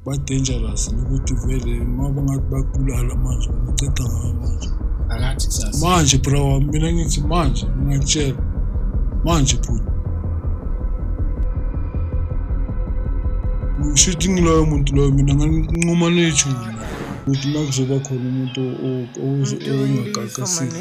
ba-dangerous nokuthi vele uma bangathi babulala manje baceda ngayo manje akathi kusasa manje bro wami mina ngithi manje ngingakutshela manje bhuti shuthi ngiloyo muntu loyo mina nganquma nethuna ukuthi uma kuzoba khona umuntu ongagaqasile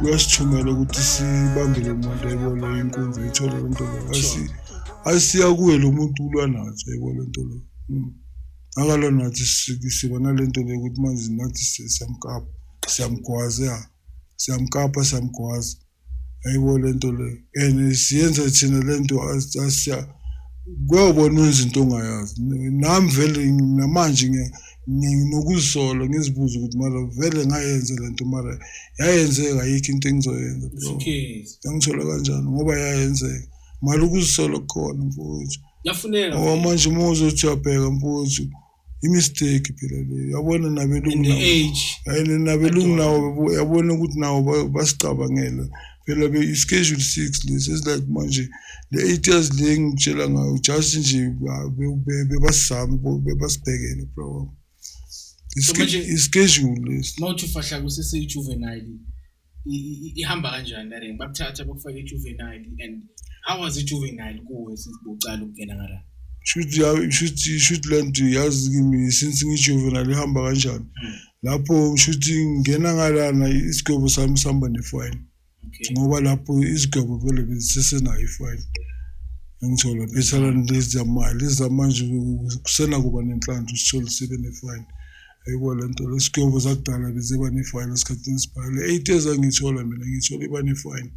uyasithumela ukuthi sibambe lo muntu ayibona inkunzi ayithole lo nto leyo Asi- ayisiya kuye lo muntu ulwa nathi ayibo le nto leyo Mm. akalwa nathi si- siba nale nto leyo ukuthi manje nathi si- siyamkapa siyamgwaza ya siyamkapa siyamgwaza ayibo le nto leyo and siyenza thina le nto as- asiya kuyobona wenza into ongayazi nami vele namanje ngiya- nginokuzisola ngizibuza ukuthi mara vele ngayenze le nto mara yayenzeka yikho into engizoyenza yangithola kanjani ngoba yayenzeka mali ukuzisola kukhona mfowethu ngoba manje uma uzothi uyabheka mfowethu imistake phela leyo yabona nabelungu nabelungu nawo yabona ukuthi nawo basicabangele phela ke i-schedule six lesi esilike manje le eight years le engitshela ngayo just nje bebasizama bebasibhekele bro wami i-schedule lesi uma uthi ufahla kuseseyi-juvenile ihamba kanjani lare bakuthatha bakufake i-juvenile and how was i-juvenile kuwe since bocala ukungena ngala shuthi shuthi shuthi le nto yazi kimi since ngijuvenile ihamba kanjani hmm. Lapho ngisho ukuthi ngingena ngalana isigwebo sami sihamba nefayini ngoba lapho izigwebo vele bezisesenayo ifayini engithola phethela lezi zamali lezi zamanje kusenakuba nenhlanhla usithole sibe nefayini ayibo le nto lesigwebo zakudala beziba nefayini esikhathini esibhale eight years angiyithola mina ngiyithola iba nefayini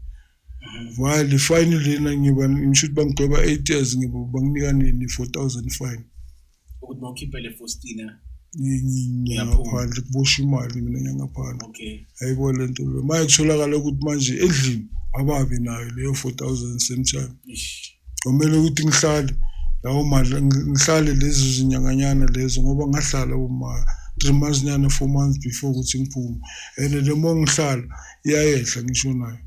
While fine lena ngiba ngisho ukuthi bangidweba 8 years ngiba banginika nini 4000 fine. Ukuthi mawukhiphe le Faustina ngiyaphandle kubosha imali mina ngiyangaphandle. Okay. Hayibo lento lo. Manje kutholakala ukuthi manje endlini ababi nayo leyo 4000 same time. Ish. Kwamele ukuthi ngihlale lawo mali ngihlale lezo zinyanganyana lezo ngoba ngahlala uma three months nyana four months before ukuthi ngiphume and le mo ngihlala iyayehla ngisho nayo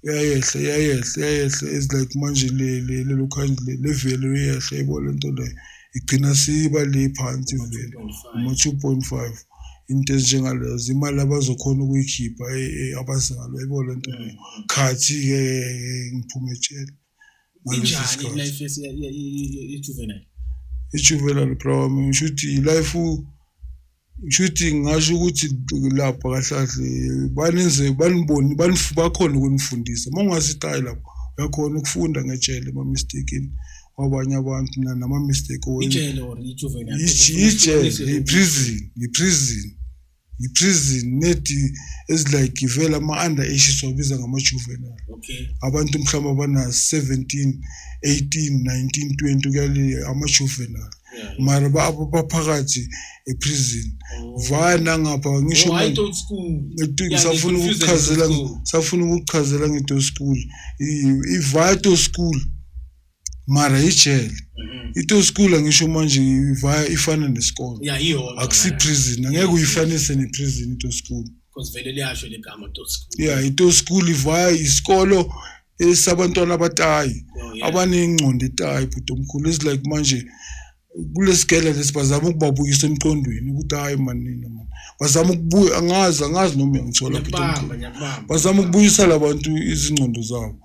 iyayehla iyayehla iyayehla is like manje lelo khandle le vele iyehla yebo le nto leyo igcina siba le phansi vele uma-two point five into ezinjengaleyo zimali abazokhona ukuyikhipha eh, eh, abazalo ayibo le nto leyo khathi-ke eh, ngiphume etshela ngalesi injani sikhathi life yesi- ye- ye- ye- ye- ye-juvenile ijuvenile bra wami ngisho ukuthi life ngisho ukuthi ngingasho ukuthi lapha kahlahle baninze baniboni banif- bakhona ukunifundisa uma ungasitayi lapho uyakhona ukufunda ngejele ema-mistakeni kwabanye abantu na- nama-mistake owenza ijele or ijuvenile ijele yiprison yiprison yiprison nedi ezilike vele ama-under age siwabiza ngama-juvenile okay abantu mhlawumbe abana-17 18 19 20 kuyale ama-juvenile Yeah. mara ba- abo baphakathi eprison vaya nangapha ngisho Oh, hayi manje- don't school Ngithi Yeah, ngisafuna ngi-confused ukuchazela ngi-to school. ngisafuna ukuchazela ngeto school ivaya to school mara ijele Mhm. ito school ngisho manje ivaya ifana nesikole ya iyona akusi prison angeke uyifanise ne prison ito school because vele liyasho legama to school yeah ito school ivaya isikolo esabantwana abatayi Oh, yeah. abanengqondo etayi bhuti omkhulu is like manje kulesigela lesi bazama ukubabuyisa emqondweni ukuthi hayi manina man bazama ukubuya angazi angazi noma uyangithola bazama ukubuyisa labantu izingqondo zabo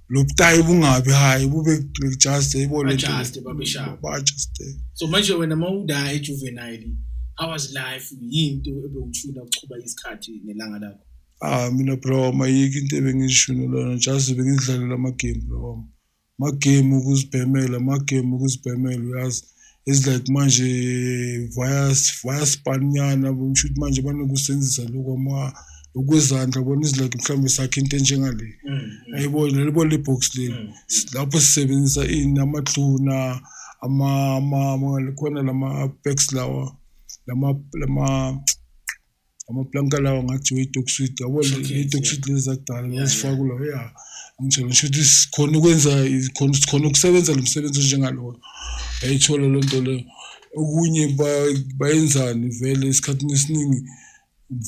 lobutayi bungabi hayi bube just ibole just babeshaya ba just so manje wena mawuda ejuvenile how was life yinto ebewuthula ukuchuba isikhathi nelanga lakho ah mina bro mayike into ebengishunelana just bengidlalela ama game bro Magame ukuzibhemela, magame ukuzibhemela uyazi. It's like manje via via spanyana ngisho ukuthi manje banokusenzisa lokho ama ukwezandla bona izilike mhlawumbe sakhe into enjengale mm, mm. ayibona lelibo le box leli mm, lapho sisebenzisa ini amathuna ama ama khona lama packs lawa lama lama amaplanka lawa ngathi we-toxid yabo le-toxid lezi zakudala ngazifakula ya ngitshela ngisho ukuthi sikhona ukwenza khona sikhona ukusebenza lo msebenzi onjengaloyo yayithola loo nto leyo okunye bayenzani vele esikhathini esiningi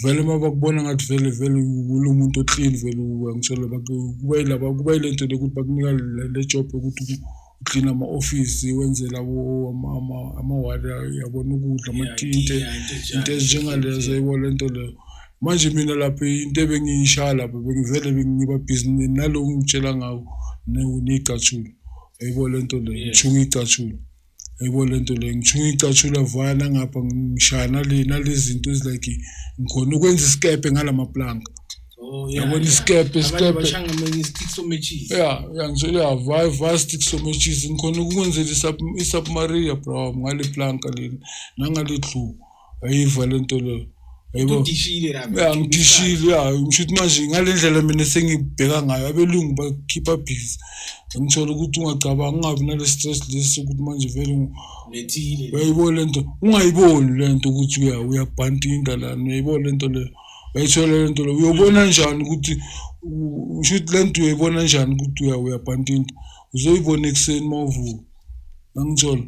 vele uma bakubona ngathi vele vele kulo muntu oklini vele uyangitshela kuba yilaba kuba yile nto le ukuthi bakunika le job yokuthi uklina ama-ofisi wenzela amawadi yabona ukudla amatinte into ezinjengalezo yibo le nto leyo manje mina lapho into ebengiyishaya lapho bengivele bengiba bhizi nalo ngitshela ngawo ney'catshulu ayibo le nto leyo ngithunga iy'catshulu ayibo le nto leyo ngithunga iy'catshulu avaya nangapha ngishaya nale nalezi zinto ezilike ngikhona ukwenza isikebhe ngala mapulanka Oh, yeah, yabona yeah. isikepe Abantu isikepe bashanga mina nge-stick somatches. ya ya ngitshela ya vaya vaya stick somatches ngikhona ukwenzela isub- isubmaria bro ngale planka leli nangale clue ayiva le nto leyo ayibo Udishile la, ya ngidishile ya ngisho ukuthi manje ngale ndlela mina sengibheka ngayo abelungu bakhipha busy ngithola ukuthi ungacabanga ungabi nale stress lesi ukuthi manje vele ngu- Lethile. uyayibona le nto ungayiboni le nto ukuthi uya- uyabhantinda lana uyayibona le nto leyo wayithola le nto le uyobona njani ukuthi usho ukuthi le nto uyoyibona njani ukuthi uyabhantinta uzoyibona ekuseni uma uvuka angitsholo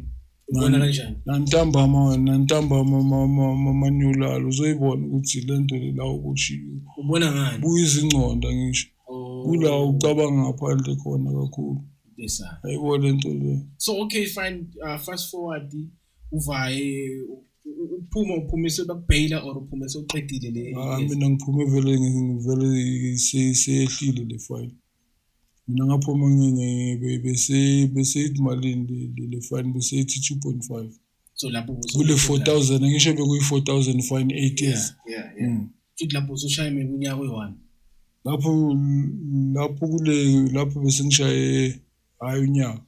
nantambama wena nantambama manyolala uzoyibona ukuthi le nto le la uboshiwe buyizingconda ngisho oh. kula ucabanga ngaphandle khona kakhulu ayibo le nto le so okay fine uh, fast forward uvaye uphuma uphumisa bakubhayila or uphuma sewuqedile le ah, mina ngiphume vele ngivele seyehlile le fine mina ngaphuma beseyithi malini le fine beseyithi two point five so lapho kule four thousand ngisho bekuyi-four thousand fine eight years hmm. futhi lapho usushaye mina unyaka oyi-one lapho lapho kule lapho besengishaye hhayi unyaka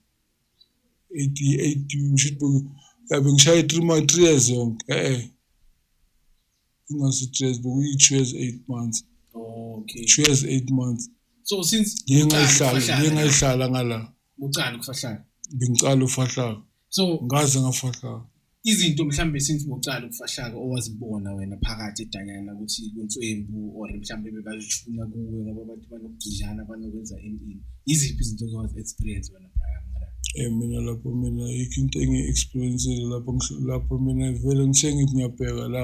yabe ngishaye three years yonke e-e ingasi-three years bekuyi-two years eight months okay two years eight months so since ngiye ngayihlala ngiye ngayihlala ngala ucala ukufahlala bengiqala ufahlaka so ngaze ngafahlaka izinto mhlawumbe since bokuqala ukufahlaka owazibona wena phakathi edanyana ukuthi kuntswembu or mhlawumbe bebazishuna kuwe ngoba abantu banokugidlana banokwenza entini yiziphi izinto ozowazi experience wena prior Eh mina lapho mina ayikho into engiyi-experience-ile lapho lapho mina vele ngithenge ngiyabheka la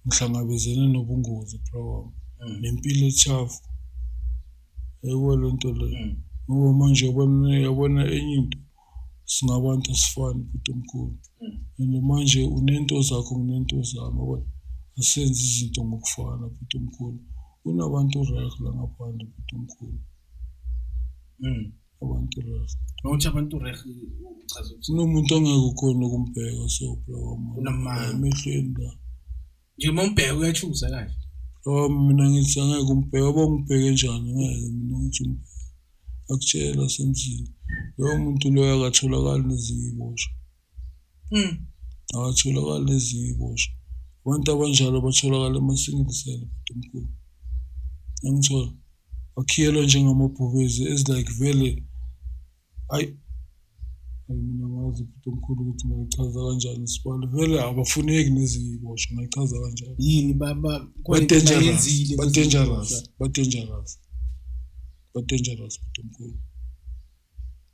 ngihlangabezene nobungozi bra wami mm. nempilo ethafu ayikho le nto leyo mm. ngoba manje yabona yabona enye into singabantu asifani bhuti omkhulu and manje unento zakho nginento zami yabona asenze izinto ngokufana bhuti omkhulu kunabantu right la ngaphandle bhuti omkhulu mm. abantu right mawuthi abantu right uchaza ukuthi kunomuntu ongeke ukhona ukumbheka so bro emehlweni la Nje uma umbheka uyachuza kahle. Oh mina ngithi angeke umbheke oba umbheke njani ngeke mina ngithi umbheke. Akutshela semzini. Lowo muntu loyo akatholakali nezinye iy'boshwa. Mm. Akatholakali nezinye iy'boshwa. Abantu abanjalo batholakala emasingle cell bhuti omkhulu. Angithola. Bakhiyelwa njengamabhubezi as like vele Hayi. Hayi mina ngazi ukuthi omkhulu ukuthi ngayichaza kanjani isibalo. Vele abafuneki neziboshwa ngayichaza kanjani. Yini baba Ba dangerous. Ba dangerous. Ba dangerous. Ba dangerous ukuthi omkhulu.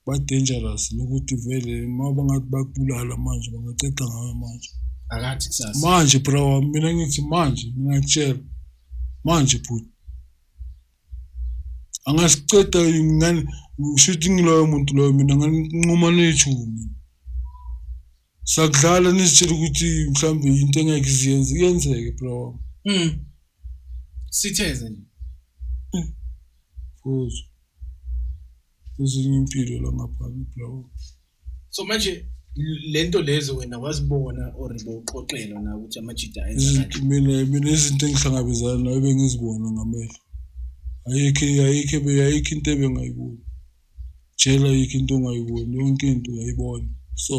Ba dangerous lokuthi vele uma bangathi bakubulala manje bangaceca ngawe manje. Akathi kusasa. Manje bro mina ngithi manje ngiyakutshela. Manje bhuti angasiceda ngani ngisho ukuthi ngiloyo muntu loyo mina nganquma ney'thumi sakudlala nizitshela ukuthi mhlawumbe yinto engeke iziyenze iyenzeke bro wami mm. sitheze nje hmm. futhi ezinye impilo la ngaphandle bro wami so manje lento lezo wena wazibona or bowuxoxelwa na ukuthi amajida mina mina izinto engihlangabezana nayo bengizibona ngamehlo ayikho ayikho ayikho into ebengayiboni jela ayikho into ongayiboni yonke into uyayibona so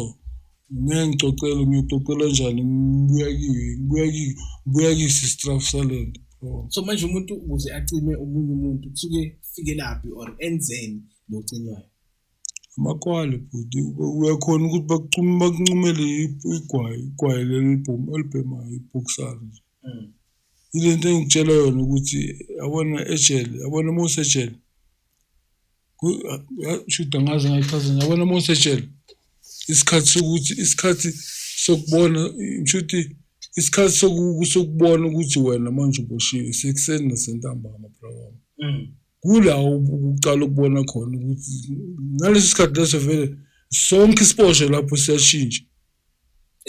mina ngixoxela ngiyixoxela njani ngibuya kiyo ngibuya kiyo ngibuya kiyo sistraf salento so manje umuntu ukuze acime omunye umuntu kusuke fike laphi or enzeni locinwayo Amakwali bhuti uyakhona ukuthi bakucuma bakuncumele igwayi igwayi leli libhomu olibhemayo ibhoksana nje mm. ile nto engitshela yona ukuthi yabona ejele yabona uma usejele shuda ngaze ngayichaza yabona uma usejele isikhathi sokuthi isikhathi sokubona shuthi isikhathi sokubona ukuthi wena manje uboshiwe sekuseni nasentambama bra wami mm. kula ukuqala ukubona khona ukuthi ngaleso sikhathi leso vele sonke isiposho lapho siyashintsha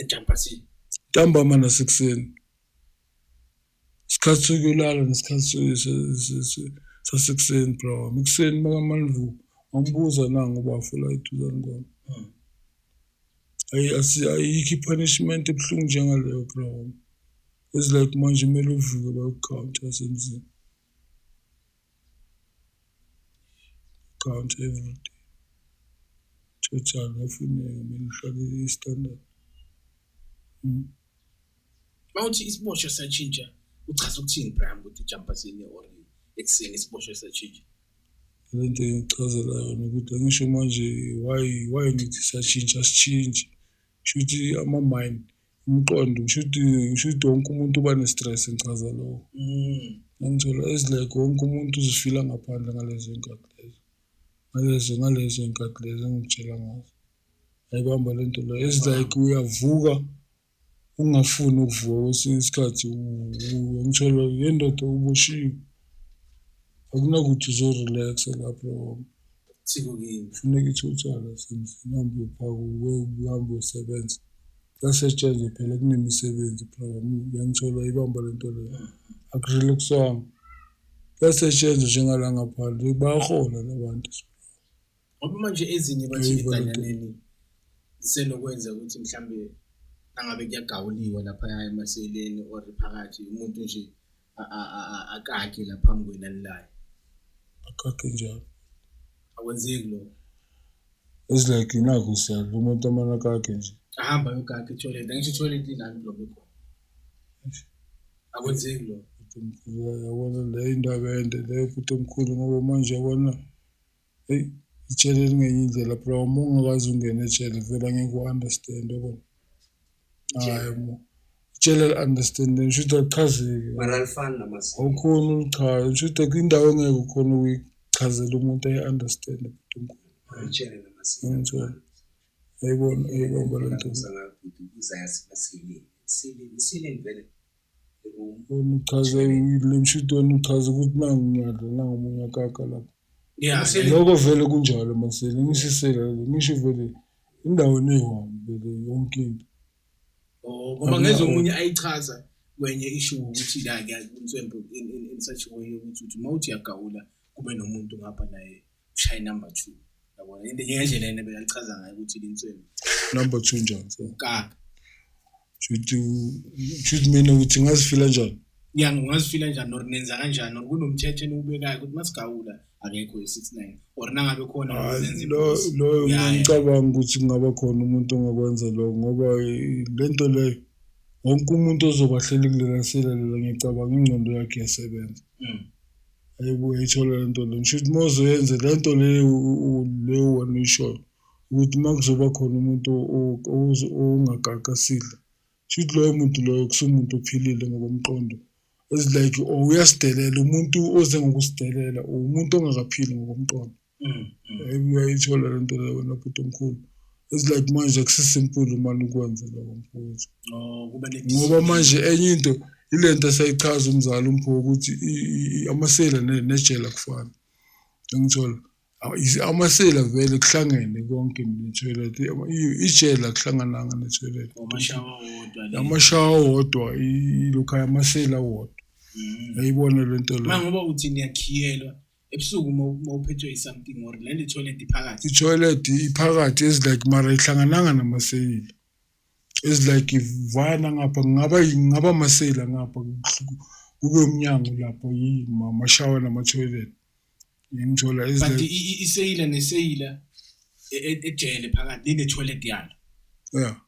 entampasini ntambama nasekuseni isikhathi sokulala nesikhathi sasekuseni bro wami ekuseni makamanvu wambuza nangu bafula iduzane kwami hmm. ayi ayikho i-punishment ebuhlungu njengaleyo bro wami it's like manje kumele uvuke bayokukhawunta semzini Count every day. Total ngafuneka mina uhlale i-standard. Mm. Mawuthi isiboshwa satshintsha uchaza ukuthini Brian ukuthi ujumpa sini or ekuseni isiboshwa satshintsha. Lento engichazela yona ukuthi angisho manje why why ngithi satshintsha sitshintshe. Shuthi ama-mind umqondo kusho ukuthi kusho ukuthi wonke umuntu uba ne-stress ngichaza lowo ngangithola as like wonke umuntu uzifila ngaphandle ngalezo y'nkathi lezo ngalezo ngalezo y'nkathi lezo engikutshela ngazo ayibamba le nto leyo as like uyavuka ungafuni ukuvuka kwesinye isikhathi ngithola yendoda uboshiwe akunakuthi uzorelaxa lapho thiko kimi funeka ithutshana sendlini hambe uyophaka uwe uhambe uyosebenza yasetshenzwa phela kunemisebenzi program yangithola ibamba le nto leyo akurelaxwanga yasetshenzwa njengala ngaphandle bayahola la bantu ngoba manje ezinye bathi iganyaneni zisenokwenza ukuthi mhlawumbe nangabe kuyagawuliwa laphaya emaseleni or phakathi umuntu nje akakhe la phambi kwenu alilayo akakhe njalo akwenzeki lokho it's like nakho siyadla umuntu amana kakhe nje ahamba yokakhe etoilet angisho etoilet inani lokho khona akwenzeki lokho yabona le indaba ende le futhi omkhulu ngoba manje yabona eyi ijele elingenye indlela bro uma ungakwazi ungena ejele vele angeke u-understand yabona hayi mo ijele li-understand ngisho ukuthi alichazeki mara alifani namasiko awukhona ulichaza ngisho ukuthi kwindawo engeke ukhona ukuyichazela umuntu ayi-understand bhuti omkhulu ijele namasiko ngithola ayibona ayibamba le nto Uza ngayo bhuti, uza yasebasilini. Isilini, isilini vele. uchaze le mshitweni uchaze ukuthi nangu ngiyadla nangu omunye akaka lapho Yeah, sele loko vele kunjalo masele ngishisela le ngisho vele indawo neyiwani vele yonke into oh, ngoba ngeze omunye ayichaza kwenye ishu ukuthi la ngiyakuntswembu in, in, in such a way ukuthi uthi uma uthi uyagawula kube nomuntu ngapha naye ushaye number 2 yabona into ngendlela yena bekachaza ngayo ukuthi linsweni number 2 njani so ka shuthi shuthi mina ukuthi ngazifila njani ya ngazifila njani or nenza kanjani or kunomthetho enubekayo ukuthi masigawula akekho ye-69 or nangabe khona loyo ngicabanga ukuthi kungaba khona umuntu ongakwenza lokho ngoba eh, le nto leyo wonke umuntu ozobahleli kulelaselela ngiyacabanga ingqondo yakhe yasebenza mm. ayibo uyayithola le nto le ngisho ukuthi uma uzoyenze le nto leyo leyo wena uyishoyo ukuthi uma kuzoba khona umuntu ongagaqa sidla shuthi loyo muntu loyo kusumuntu ophilile ngokomqondo it's like or uyasidelela umuntu oze ngokusidelela or umuntu ongakaphili ngokomqondo mm, mm. uyayithola le nto leyo wena bhuti omkhulu it's like manje akusisimple mani ukwenze lokho mfowethu oh, ngoba manje enye into ile nto esayichaza umzali umpho ukuthi amasela nejela kufana engithola amasela vele kuhlangene konke ne-toilet ijele akuhlangananga ne-toilet amashawa wodwa ilokhaya amasela wodwa mm. ayibona le nto leyo ngoba uthi niyakhiyelwa ebusuku uma uphethwe i-something or lento i-toilet iphakathi i-toilet iphakathi ezilike mara ihlangananga namaseyili ezilike ivana ngapha ngingaba ngingaba amaseyila ngapha kube umnyango lapho yimashawa nama-toilet ngimthola but iseyila neseyila e, e, ejele phakathi nine-toilet yalo ya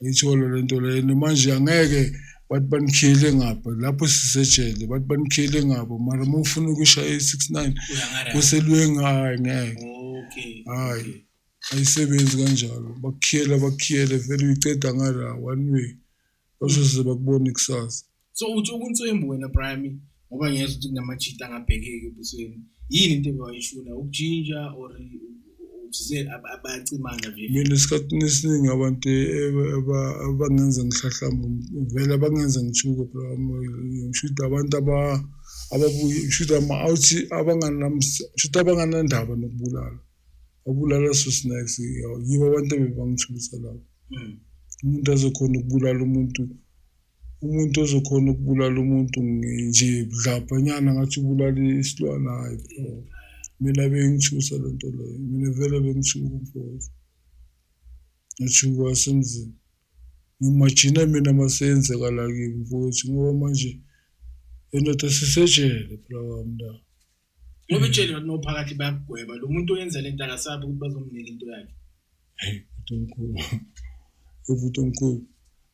Ngiyithola le nto leyo and manje angeke bathi banikhiyele ngapha lapho sisejele bathi banikhiyele ngapha mara uma ufuna ukushaya i-six nine Uyangara. kuselwenga hayi ngeke Okay. hayi ayisebenzi kanjalo bakukhiyela bakukhiyele vele uyiceda ngala one way bazoze bakubone kusasa so uthi ukuntswembu wena prime ngoba ngiyeza ukuthi kunamajita angabhekeki ebusweni yini into ebewayishuna ukujinja or abacimana mina esikhathini esiningi abantu abangenza ngihlahlamba vele abangenza ngithuke phela ngisho ukuthi abantu ababuye ngisho ukuthi ama-outhi ngisho ukuthi abanganandaba nokubulala abulala so snacks yibo abantu ebebangithulisa lapho hmm. umuntu azokhona ukubulala umuntu umuntu ozokhona ukubulala umuntu nje budlabhanyana ngathi ubulala isilwane hayi bro mina bengithusa le nto leyo mina vele bengithuka mfowethu ngathuka wasemzini ngimajina mina maseyenzeka la kimi mfowethu ngoba manje endoda sisejele phela wami la ngoba itsheli ngathi nophakathi bayakugweba lo muntu oyenza le nto akasabi ukuthi bazomnika into yakhe uNkulu evuthi uNkulu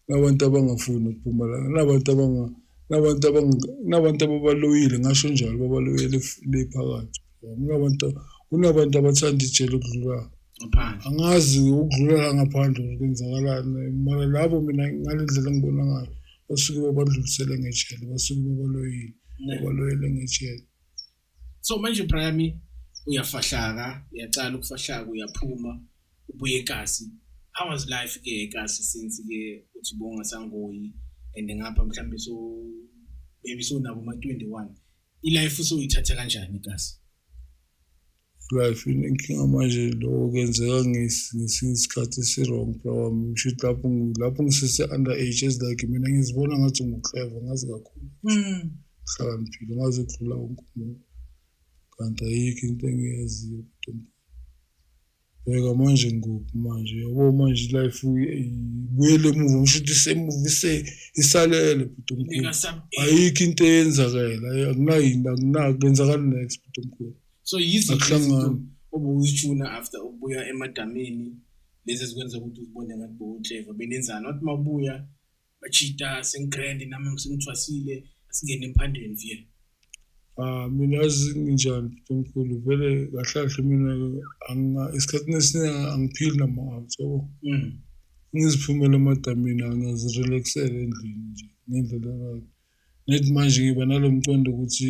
nabantu abangafuni ukuphuma la nabantu abanga nabantu abanga nabantu ababaloyile ngasho njalo babaloyile le phakathi kunabantu kunabantu abathanda ijele ukudlula angazi ukudlula la ngaphandle kwenzakalani mara labo mina ngalendlela ngibona ngayo basuke babandlulisele ngejele basuke babaloyile babaloyele ngejele so manje Brian uyafahlaka uyaqala ukufahlaka uyaphuma ubuye eKasi how was life ke eKasi since ke uthi bonga sangoyi and ngapha mhlawumbe so maybe so nabo ma 21 ilife usoyithatha kanjani kasi life inenkinga manje lokho kuyenzeka ngesinye isikhathi esi-wrong bra wami ngisho ukuthi lapho lapho ngisese-under age ezilike mina ngizibona ngathi ngu-clever ngazi kakhulu hmm. hlakaniphile ngazi ukudlula wonke umuntu kanti ayikho into engiyaziyo Bheka manje ngikuphi manje yabo manje ilife ibuyele emuva ngisho ukuthi isemuva isalele bhuti omkhulu ayikho into eyenzakela akunayini akunaki kwenzakala next bhuti omkhulu so yizihlangano obuyishuna after ukubuya emadamini lezi ezikwenza ukuthi uzibone ngathi bowutleva benenzani wathi mabuya bajita sengigrand nami sengithwasile asingene emphandeni vye Ah mina azinjani Nkulunkulu vele kahle kahle mina anga isikhathini esiningi angiphili nama-out yabo. Mm. Ngiziphumela emadamini angazirelaxela endlini nje ngendlela right. Nethi manje ngiba nalo mqondo ukuthi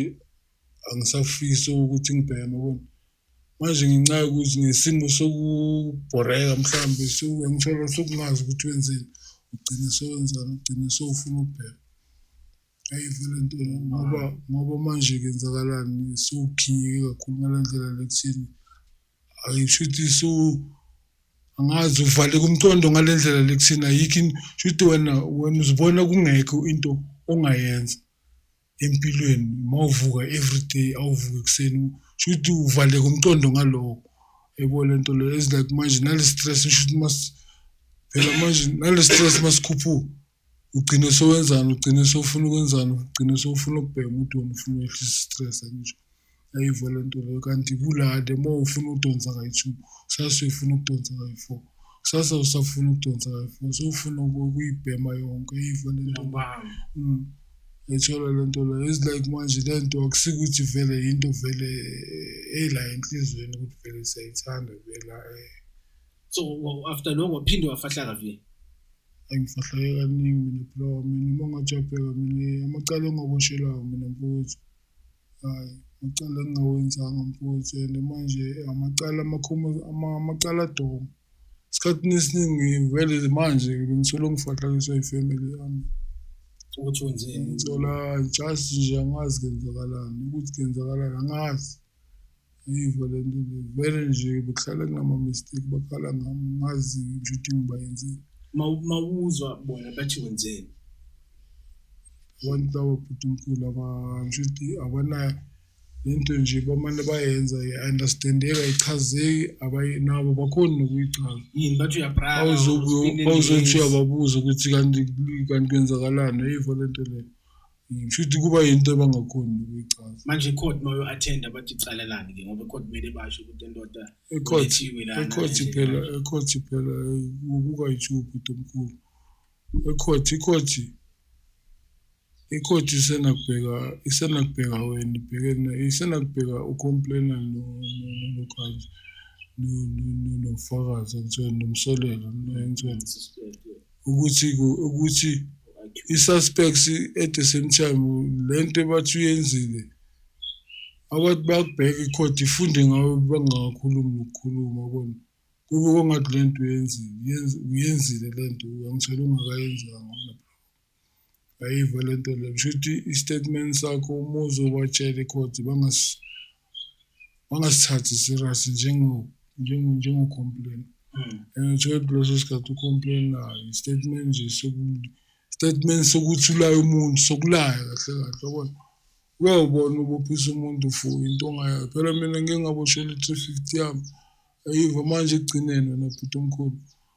angisafisi ukuthi ngibheme yabona. Manje ngenxa yokuthi ngesimo sokubhoreka mhlawumbe suke ngithola sokungazi ukuthi wenzeni ugcine sewenzani ugcine sewufuna ukubheka ayive le nto ngoba ngoba manje kenzakalani sewukhinyeke kakhulu ngale ndlela lekuthini ayisho ukuthi so angazi uvaleka umqondo ngale ndlela lekuthini ayikho shuthi wena wena uzibona kungekho into ongayenza empilweni uma uvuka everyday awuvuke ekuseni sho ukuthi uvaleka umqondo ngaloko yebo le nto leyo is like manje nale stress usho ukuthi mas phela manje nale stress masikhuphuka ugcine sowenzani ugcine sowufuna ukwenzani ugcine sowufuna ukubheka umuntu wena ufuna ukwehlisa i-stress angisho Ayi vele ntolo kanti kulade uma ufuna ukudonsa kayi-two kusasa uyifuna ukudonsa kayi-four kusasa usafuna ukudonsa kayi-four sewufuna ukuyibhema yonke ayi vele ntolo Mm. ethola le nto leyo is like manje le nto akusikuthi vele yinto vele eh, ela enhliziyweni ukuthi vele siyayithanda vela eh so wa- after lokho waphinde wafahlaka vile angifahleke kaningi mina bro mina uma ngajapheka mina amacala engaboshelwayo mina mfowethu Hhayi, amacala engingawenzanga mfowethu and manje amacala amacala adoma. Esikhathini esiningi vele manje bengisolo ngifahlakiswa ifamily yami. Ukuthi wenzeni? Ngithola just nje angazi kenzakalani, ukuthi kenzakalani angazi. Yiva le nto le vele nje behlala kunama-mistake bakhala ngami ngazi nje ukuthi ngibayenzeni Ma- mawuzwa bona bathi wenzeni abantu laba bhuti mkhulu aba- ngisho ukuthi abanayo le nto nje bamane bayenza i-understandeka ichazeki abayi- nabo bakhoni nokuyichaza yini bathi uyabraka awuzothi uyababuza ukuthi kanti kanti kwenzakalani ayivo le nto leyo Ngisho ukuthi kuba yinto abangakhoni ukuyichaza. Manje icourt mayo attend abathi icala lani ke ngoba icourt kumele basho ukuthi endoda ecourt ecourt phela ecourt phela ukuka ichubu domkhulu. Ecourt icourt icourt isenakubheka isenakubheka wena ibhekene isenakubheka ucomplaina no no kanje nofakazi ngithe nomsolelo ngithe ukuthi ukuthi i-suspects at the same time lento ebathi uyenzile abathi bakubheka i-court ifunde ngawe bangakhulumi nokukhuluma kona kube kongathi lento uyenzile uyenzile lento angithole ungakayenzanga Ayiva le nto le kusho ukuthi i-statement sakho uma uzobatshela ikhodi bangasithathi serious njengocomplain hmm. and uthole ukuthi leso sikhathi ucomplainayo i-statement nje statement sokuthi ulaye umuntu sokulaya kahle kahle yabona uyawubona ubophisa umuntu for into ongayayo phela mina ngike ngaboshela i-three fifty yami ayiva manje ekugcineni wena bhuti omkhulu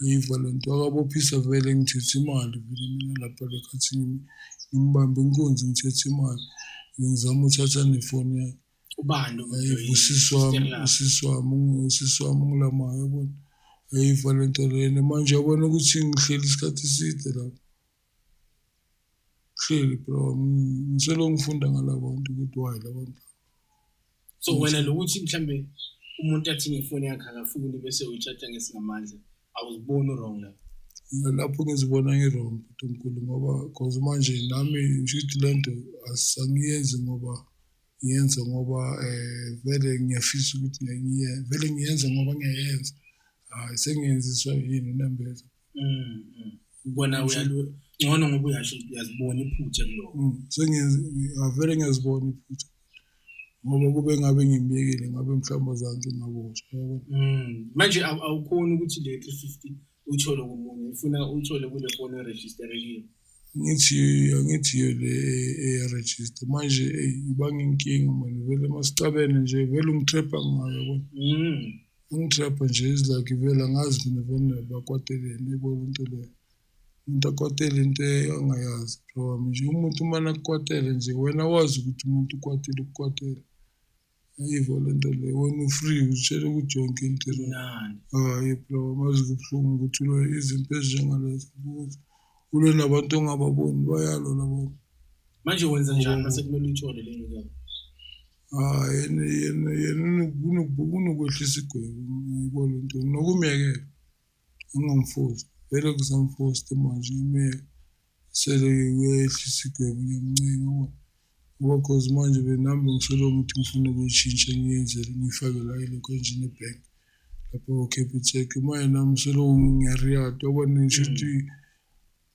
Ayiva lento akabophisa vele ngithethe imali vele mina lapha le khathini ngimbambe inkunzi ngithethe imali ngizama uthatha nefoni yakhe ubani usisi wami usisi wami usisi wami ungilamayo yabona ayiva lento lena manje yabona ukuthi ngihleli isikhathi eside lapho Hleli bro ngiselo ngifunda ngalabantu ukuthi why labantu. So wena lokuthi mhlambe umuntu athi ngefoni yakhe akafuni bese uyitshatha ngesingamandla awuziboni wrong lapho. lapho ngizibona ngi-wrong bhuti omkhulu ngoba cause manje nami ngishuthi le nto asangiyenzi ngoba ngiyenza ngoba um vele ngiyafisa ukuthi vele ngiyenza ngoba ngiyayenza hhayi sengiyenziswa yini unembeza mm, mm. ubona ngcono ngoba uyasho uyazibona iphutha kuloko mm, sengiyavele ngiyazibona iphutha ngoba kube ngabe ngimyekile ngabe mhlawumbe zange ngaboshwa manje awukhoni ukuthi le 350 uthole komunye ufuna uthole kule foni eregisterekile ngithi angithi le eyaregister manje ibanga inkinga manje vele masicabene nje vele ungithrepa ngayo yabona mm. Ungitrapha nje izilakivela ngazi mina vele bakwateleni ikona into leyo umuntu akwatele into angayazi bro wami nje umuntu uma nakukwatele nje wena wazi ukuthi umuntu ukwatile ukukwatele ayivo le nto leyo wena ufree utshele ukuthi yonke into hayi bro amazi kubuhlungu ukuthi ulo izinto ezinjengalezo ukuthi ulo nabantu ongababoni bayalo labantu manje wenza njani mase kumele uyithole le nto Hhayi yena yena yena unokwehlisa igwebu yebo le nto nokumyekela angamfosi vele kusamfosta manje imyeke sele uyehlisa igwebu ngiyamncenga ngoba ngoba cause manje benami bengisolo ukuthi ngifuna ukuyishintsha ngiyenzele ngiyifake la ilokhu enjini ebhenki lapho ko-capitec uma yena msolo ngiyariyada yabona ngisho ukuthi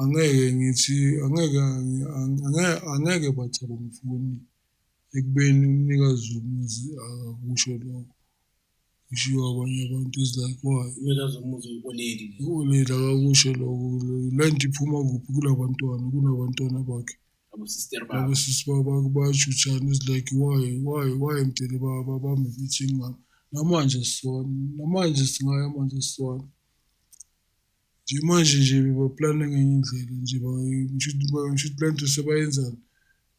angeke ngithi angeke angeke bathi abamfuni ekubeni umnikazi womuzi akakusho lokho kushiwo abanye abantu is like why umnikazi womuzi uyikoleli ukoleli akakusho lokho le nto iphuma kuphi kula bantwana kunabantwana bakhe labo sisi basho uthani is like why why why mdele babambe i-meeting ngami namanje sisona namanje singaya manje sisona Nje manje nje bebaplana ngenye indlela nje ngisho ukuthi le nto sebayenzani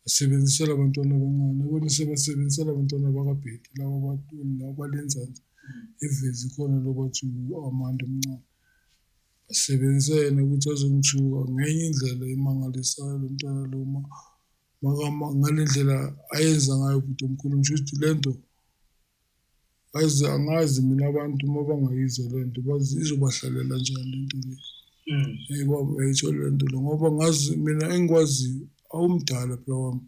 basebenzisela abantwana abancane bona sebasebenzisela abantwana bakabhedi laba bantu laba balenzansi ivezi khona lokuthi amanda omncane basebenzisa yena ukuthi azongithuka ngenye indlela emangalisayo lo mntwana lo ngale ndlela ayenza ngayo bhuti omkhulu ngisho ukuthi le nto angazi mina abantu uma bangayizwa le nto izobahlalela njani le nto le mm. eyi baba yayitho le nto le ngoba ngazi mina engikwaziyo awumdala phela wami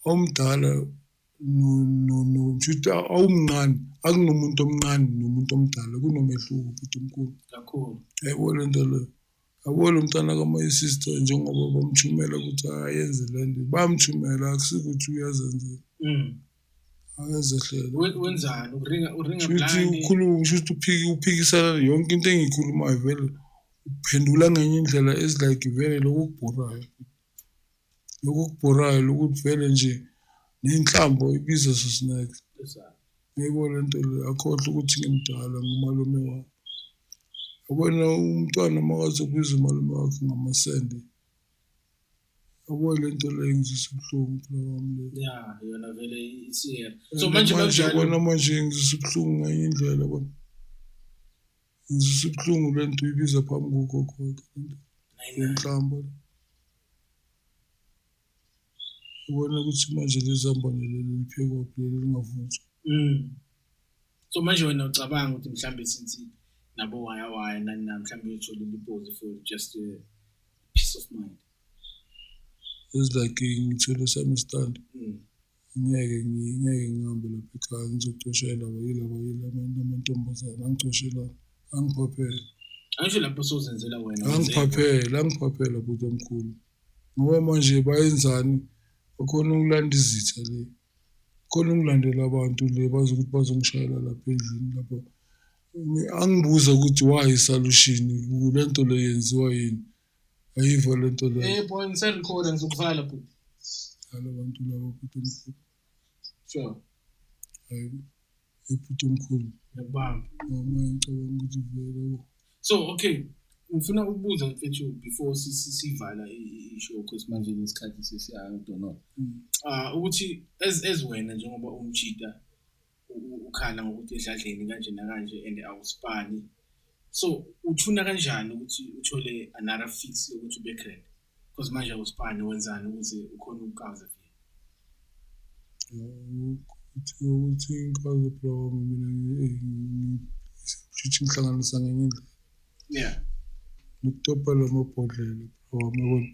awumdala noshuthi awumncane akunomuntu omncane nomuntu omdala kunomehluko bhuti omkhulu kakhulu yayibona le nto leyo Yabo lo mntana ka-my sister njengoba bamthumela ukuthi ayenze le nto bamthumela akusikuthi uyazenzela Mm. akezehlele We- Wenzani? Uringa uringa shuthi blind. ukhuluma shuthi uphiki uphikisana yonke into engiyikhulumayo vele uphendula ngenye indlela ezilike vele lokubhorayo lokhu okubhorayo lokuthi vele nje nenhlambo ibiza sosineke ngeke le nto le akhohle ukuthi ngimdala ngumalume wakhe yabona umntwana makaze ubiza umalume wakhe ngamasende yabo le nto le ngizisa ubuhlungu phela wami le ya yona vele isiyena so manje manje yabona manje ngizisa ubuhlungu ngenye indlela bona ngizwisa ubuhlungu le nto uyibiza phambi kogogoke lenhlamba ubona ukuthi manje lezambane leli liphekwaphi leli lingavunjwa mm. so manje wena ucabanga ukuthi mhlawumbe since nabo waya waya nani na mhlawumbe uyothola impozi for just a peace of mind is like ngithole sami stand mm. ngeke ngeke ngihambe lapha ekhaya ngizocoshela wayila wayila abantu amantombazane angicoshela angiphaphele angisho lapho sozenzela wena angiphaphele angiphaphele bhuti omkhulu ngoba manje bayenzani bakhona ukulanda izitha le khona ungilandela abantu le bazi ukuthi bazongishayela lapha endlini lapha angibuza ukuthi why isalushini le nto le yenziwa yini Ayivo le nto leyo. Eh boy ngisarecorda ngizokuvala bhuti. Halo bantu labo bhuti omkhulu. Sure. Hayi ebhuti omkhulu. Ngiyabamba. Mama ngicabanga ukuthi vele. So okay ngifuna ukubuza mfethu before sivala i-show cause manje nesikhathi sesiyangidonona. Mm. Ah ukuthi as as wena njengoba umjita ukhala ngokuthi edladleni kanje nakanje and awusipani so uthuna kanjani ukuthi uthole another fix yokuthi ube grand because manje awusipani wenzani ukuze ukhona ukukaza ukuthi ukuthi ngikwazi block mina ngitshitshe inhlangano sangenye indlela yeah ngitopa la mabhodlela bro yabona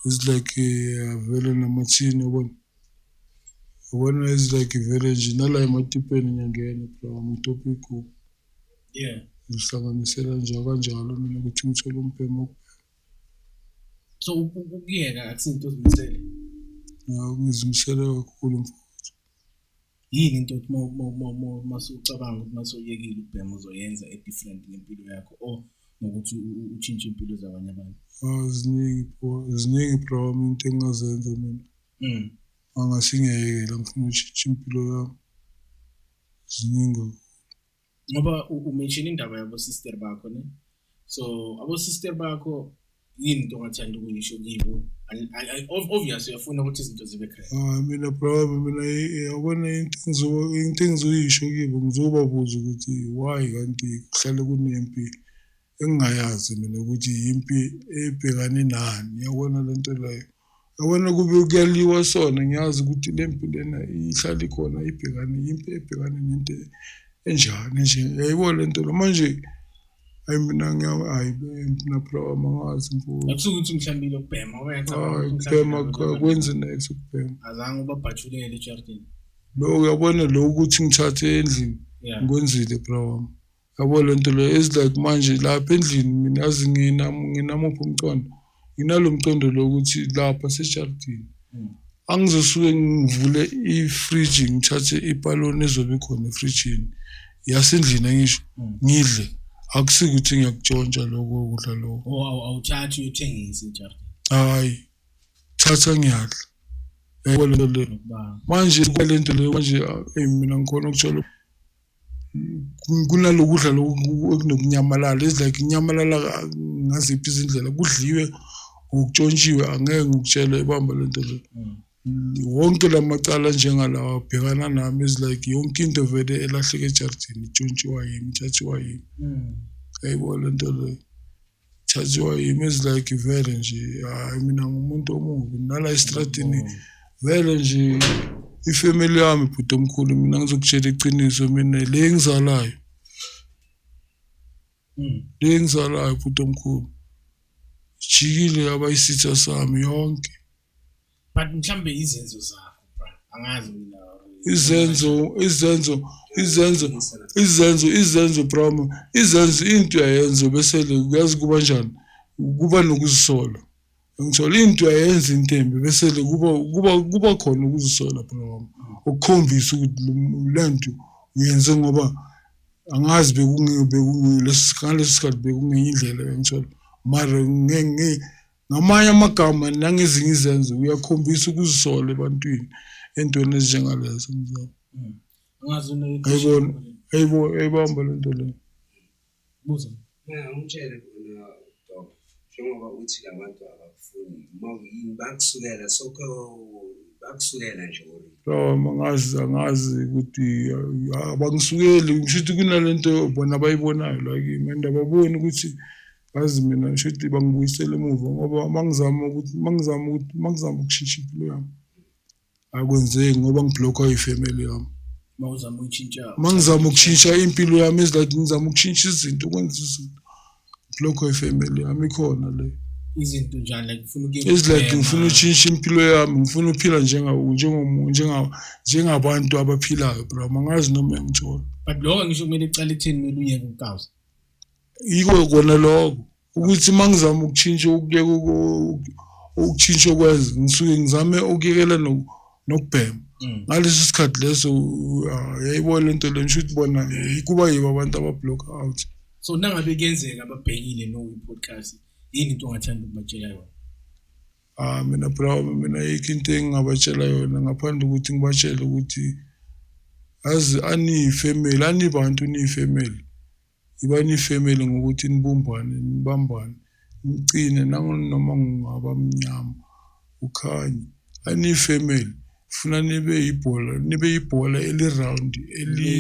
it's like avele namathini yabona Ubona is like vele nje nala ematipeni ngiyangena phela ngamaTopic yeah ngihlanganisela nje kanjalo mina ukuthi ngithole umbhemu so ukuyeka akusinto ozimisele ngizimisele kakhulu mfowethu yini into othi masucabanga ukuthi masoyekile ukubhema uzoyenza e-different ngempilo yakho or ngokuthi utshintshe impilo zabanye abantu ah, ziningi ziningi bro into engingazenza mina mm. angasingiyekela ngifuna utshintshe impilo yami ziningi ngoba umention indaba yabo sister bakho ne so abo sister bakho yini into ongathanda ukuyisho kibo obvious uyafuna ukuthi izinto zibe correct hayi mina bravo mina yabona into engizoyisho kibo ngizobabuza ukuthi why kanti kuhlale kunempi engingayazi mina ukuthi yimpi ebhekane nani yabona le nto leyo yabona kube kuyaliwa sona ngiyazi ukuthi le mpi lena ihlala ikhona ibhekane yimpi ebhekane nento enjani nje yayibo le nto lo manje hayi mina hayi mina phela wami angazi mfowethu akusuke ukuthi mhlawumbe lokubhema uyacabanga ukubhema kwenze next ukubhema azange ubabhajulele ejardini lo uyabona lo ukuthi ngithathe endlini ngikwenzile phela wami Yabo le nto leyo is like manje lapha endlini mina yazi nginamuphi umqondo nginalo mqondo lokuthi lapha seshalidini hmm. angizosuke ngivule ifriji ngithathe ipaloni ezobe khona efrijini yasendlini angisho hmm. ngidle akusike ukuthi ngiyakutshontsha lokho kudla lokho oh, awuthathi uyothengisa ejardini hayi thatha ngiyadla yabo le nto leyo manje kwale nto leyo manje eyi mina ngikhona ukuthola kunalokudla okunokunyamalala it's like inyamalala ngaziphi izindlela kudliwe ngokutshontshiwe angeke ngikutshele ibamba le nto le wonke la macala njengalawa abhekana nami is like yonke into vele elahleke ejardini itshontshiwa yimi itshatshiwa yimi yayibona le nto leyo thathiwa yimi is like vele nje hayi mina ngumuntu omubi nala esitradini vele nje ifamily yami bhuti omkhulu mina ngizokutshela iqiniso mina le engizalayo hmm. le engizalayo bhuti omkhulu jikile yabayisitha sami yonke but mhlambe izenzo zakho bra angazi mina izenzo izenzo izenzo izenzo izenzo broma izenzo into yayenza bese uyazi kuba njani kuba nokuzisola ngithola into yayenza intembe bese kuba kuba kuba khona ukuzisola broma ukukhombisa ukuthi lento uyenze ngoba angazi bekunge bekunge lesi sikhathi bekungenye indlela engithola mara ngeke Ngamanye amagama nangezinye izenzo uyakhombisa ukuzisola ebantwini entweni ezinjengalezo mzala. Hmm. Ungazi unayibona ayibo ayibamba le nto leyo. Buza. Yeah, umtshele khona Dok. Njengoba uthi labantu abakufuni uma uyini bakusukela sokho bakusukela nje or Lawa mangazi angazi ukuthi abangisukeli ngisho ukuthi kunalento bona abayibonayo la kimi and ababoni ukuthi Ngazi mina ngisho ukuthi bangibuyisele emuva ngoba uma ngizama ukuthi uma ngizama ukuthi uma ngizama ukushintsha impilo yami akwenzeki ngoba ngibhlokhwa yifamily yami uma uzama ukushintsha uma ngizama ukushintsha impilo yami eziladi ngizama ukushintsha izinto ukwenza izinto ngibhlokhwa yifamily yami ikhona le izinto njani like ufuna ukuye eziladi ngifuna ukushintsha impilo yami ngifuna ukuphila njengawo njengomuntu njengawo njengabantu abaphilayo bro mangazi noma engithola but lokho ngisho kumele kuqale ekutheni kumele uyeke ukukawuza yiko kona lokho ukuthi uma ngizama ukutshintsha ukuyeka ukutshintsha okwenza ngisuke ngizame ukuyekela nokubhema mm. ngaleso sikhathi leso ah, yayibo le nto le ngisho ukuthi bona kuba yibo abantu abablock out so nangabe kuyenzeka ababhekile noyi-podcast yini into ongathanda ukubatshela yona Ah mina bra mina yikho into engingabatshela yona ngaphandle ukuthi ngibatshele ukuthi azi aniyifamily anibantu niyifamily Yiba nifemeli ngokuthi nibumbane, nibambane, niqine nangonoma ngungaba mnyama ukhanye. Aniyifemeli funa nibe yibhola, nibe yibhola eliround eli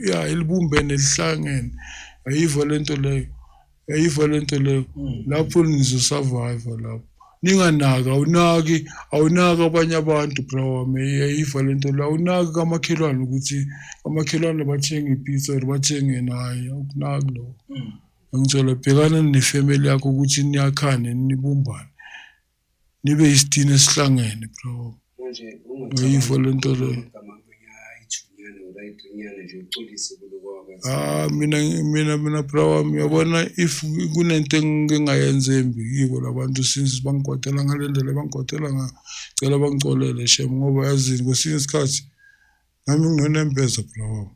ya elibumbene elihlangene. Ayiva lento leyo. Ayiva lento leyo. Lapho nizosurvive lapho. ninganaki awunaki awunaki abanye abantu bra wami yayiva le nto la awunaki kamakhelwane ukuthi amakhelwane bathenga ipizza or bathenge naye awukunaki lokho mm. angithola bhekana nefamily yakho ukuthi niyakhane nibumbane nibe isitini esihlangene bra wami manje ah mina mina mina bra wami uyabona if kunento engingayenza embi kibo labantu since bangigodela ngale ndlela bangigodela ngayo cela bangicolele shem ngoba yazini kwesinye isikhathi nami nginonembeza bra wami